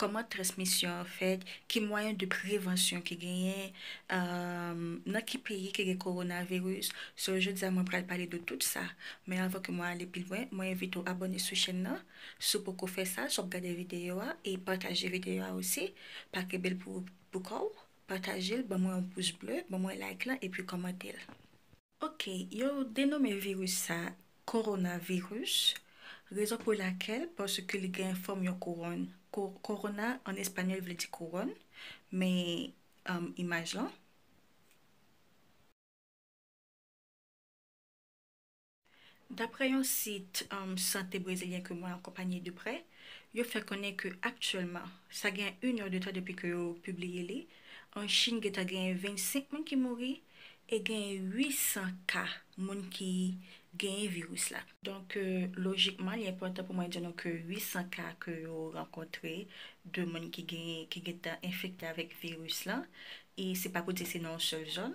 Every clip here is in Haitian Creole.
Kòman transmisyon an fèt, ki mwayen de prevansyon ki genyen, nan ki peyi ki gen coronavirus, so jodi a mwen pral pale de tout sa, men avan ke mwen ale pi lwen, mwen envite w abòne sou chèn nan, si w poko fè sa, si w ap gade videyo a, e pataje videyo a osi, pa kenbe l pou kò w, pataje l, ban mwen yon pous ble, ban mwen like lan epi kòmante l. Ok, yo denome viris sa Coronavirus, rezon pou lakèl paske li gen fòm yon kouwòn. Corona an espanyòl vle di kouwòn, men imaj lan. Daprè yon sit sante brezilyen ke mwen akonpanye de prè, yo fè konnen ke aktyèlman, sa gen 1 è de tan depi ke yo pibliye li, an Chin gentan genyen 25 moun ki mouri e genyen 800 ka moun ki genyen viris la. Donk lojikman li enpòtan pou mwen di nou ke 800 ka ke yo rankontre de moun ki genyen, ki gentan enfekte avèk viris lan, e se pa pou di se nan yon sèl zòn,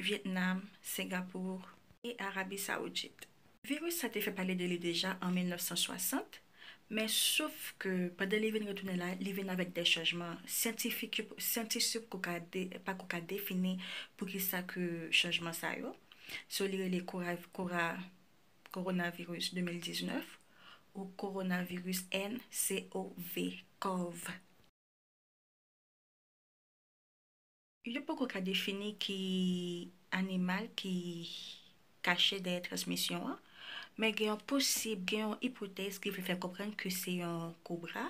Vyetnam, Singapour e Arabi Saoudit. Viris sa te fè pale de li deja an 1960, men sof ke pandan li vin retounen la, li vin avèk dè chanjman syantifik yo syantisp ko ka de pa ko ka defini pou ki sa ke chanjman sa yo. So li rele kora kora coronavirus 2019 ou coronavirus NCOV, cov. Yo poko ka defini ki animal ki kache dèyè transmisyon an, men gen yon posib, gen yon ipotèz ki vle fè konprann ke se yon kobra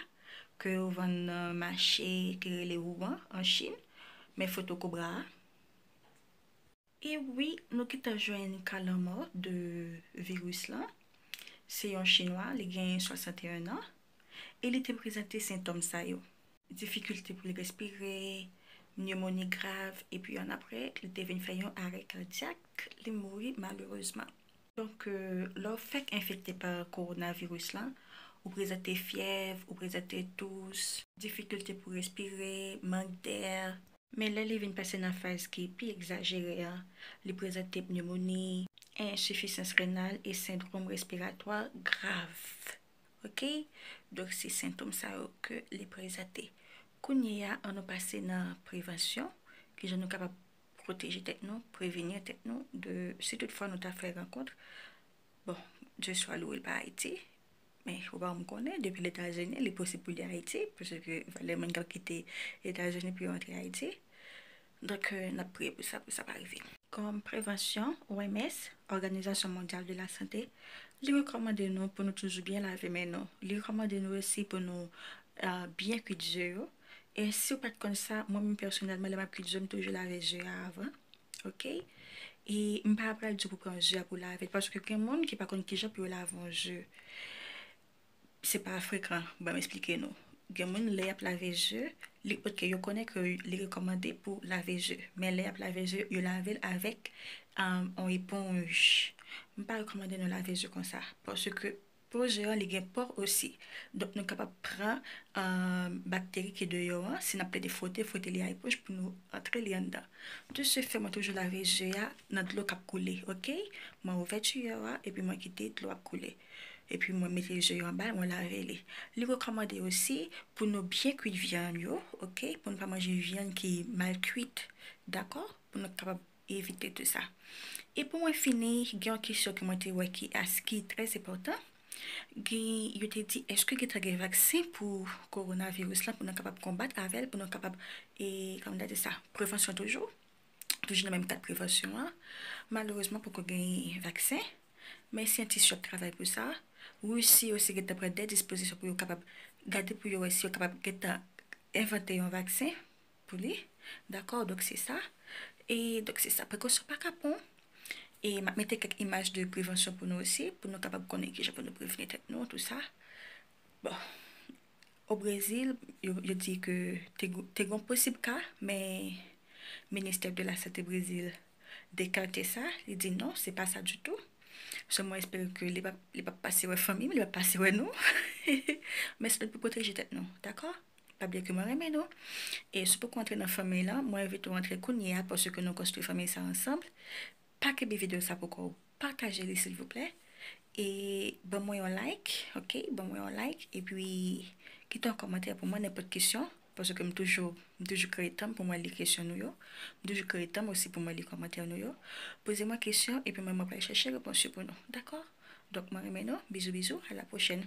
ke yo vann nan mache ki rele Wuhan an Chin, men foto kobra a. E wi nou gentan jwenn ka lanmò de viris lan. Se yon chinwa li gen 61 an e li te prezante sentòm sa yo. Difikilte pou l respire, nyemoni grav epi annapre li te vin fè yon arè kadyak, li mouri malerezman. Donk, lè w fèk enfekte pa kowonaviris lan, ou prezante fyèv, ou prezante tous. Difikilte pou respire, mank dè. Men lè li vin pase nan faz ki pi egzajere an, li prezante pneumonie. Ensifisans renal e sendrom respiratwa grav. Ok. Donk se sentom sa yo ke li prezante. Kounye a, an nou pase nan prevansyon, kijan nou kapab. proteje tèt nou, prevenir tèt nou de si tout fwa nou ta fè rankontr, bon, Dieu soit loué l pa Ayiti, men ou pa janm konnen, depi l Etazini li posib pou li Ayiti, paske valè moun k ap kite Etazini pou yo antre Ayiti, donk n ap priye pou sa, pou sa pa rive. Kòm prevansyon, OMS, Organisation Mondiale de la Santé, li rekòmande nou pou nou toujou byen lave men nou, li rekòmande nou osi pou nou byen kuit je yo, E siw pat konn sa mwen menm pèsonèlman lè map kwit ze m toujou lave ze a avan ok e m pa pral diw pou pran ze a pou lavel paske gen moun ki pa konn kijan pou yo lave yon ze se pa frekan banm esplike nou gen moun lè yap lave ze li ok yo konnen ke li rekòmande pou lave ze men lè yap lave ze yo lavel avèk yon eponj m pa rekòmande nou lave ze konsa paske Poze an li gen pò osi. Donk nou kapab pran bakteri ki deyò an, si n ap plede fwote, fwote li a eponj pou nou antre li anndan. De se fè mwen toujou lave je a nan dlo k ap koule ok. Mwen ouvè tuyò a epi mwen kite dlo ap koule. Epi mwen mete je yo anba l mwen lave li. Li rekòmande osi pou nou byen kuit vyann yo ok, pou nou pa manje vyann ki mal kuit dakò, pou nou kapab Evite tou sa. E pou mwen fini, gen yon kesyon ke mwen te wè ki as ki trè enpòtan. Gen, yo te di èske gentan gen vaksen pou kowonaviris lan pou nou kapab konbat avè l, pou nou kapab e, kòman nou ta di sa, prevansyon toujou, toujou nan menm kad prevansyon an. Malerezman poko gen vaksen, men syantis yo ap travay pou sa. Risi osi gentan pran de dispozisyon pou yo kapab gade pou yo wè si yo kapab gentan envante yon vaksen Pou li. Dakò, donk se sa. E, donk se sa. Prekosyon pa kapon. E, m ap mete kèk imaj de prevansyon pou nou osi, pou nou kapab konnen ki jan pou nou prevni tèt nou, tou sa. Bon. O Brezil, yo di ke te gen, te gen yon posib ka, men ministè de la sante Brezil dekante sa, li di non, se pa sa ditou. Sèl mwen espere ke li pap, li pap pase wè fanmi m, li pap pase wè nou. Men se nou pou pwoteje tèt nou. Dakò? Pap di ke mwen renmen nou. E si w poko antre nan fanmiy lan, mwen envite w antre kounye a paske nou konstwi fanmiy sa ansanm. Pa kenbe video sa pou kòw. Pataje li silvouplè. E ban mwen yon like ok, ban mwen yon like. E pi kite yon kòmantè pou mwen nenpòt kesyon. Paske m toujou, m toujou kreye tanm pou mwen li kesyon nou yo. M toujou kreye tanm osi pou mwen li kòmantè nou yo. Poze mwen kesyon e pi mwen mwen pral chèche repons yo pou nou. Dakò? Donk mwen renmen nou. Bizou bizou. A la pwochèn.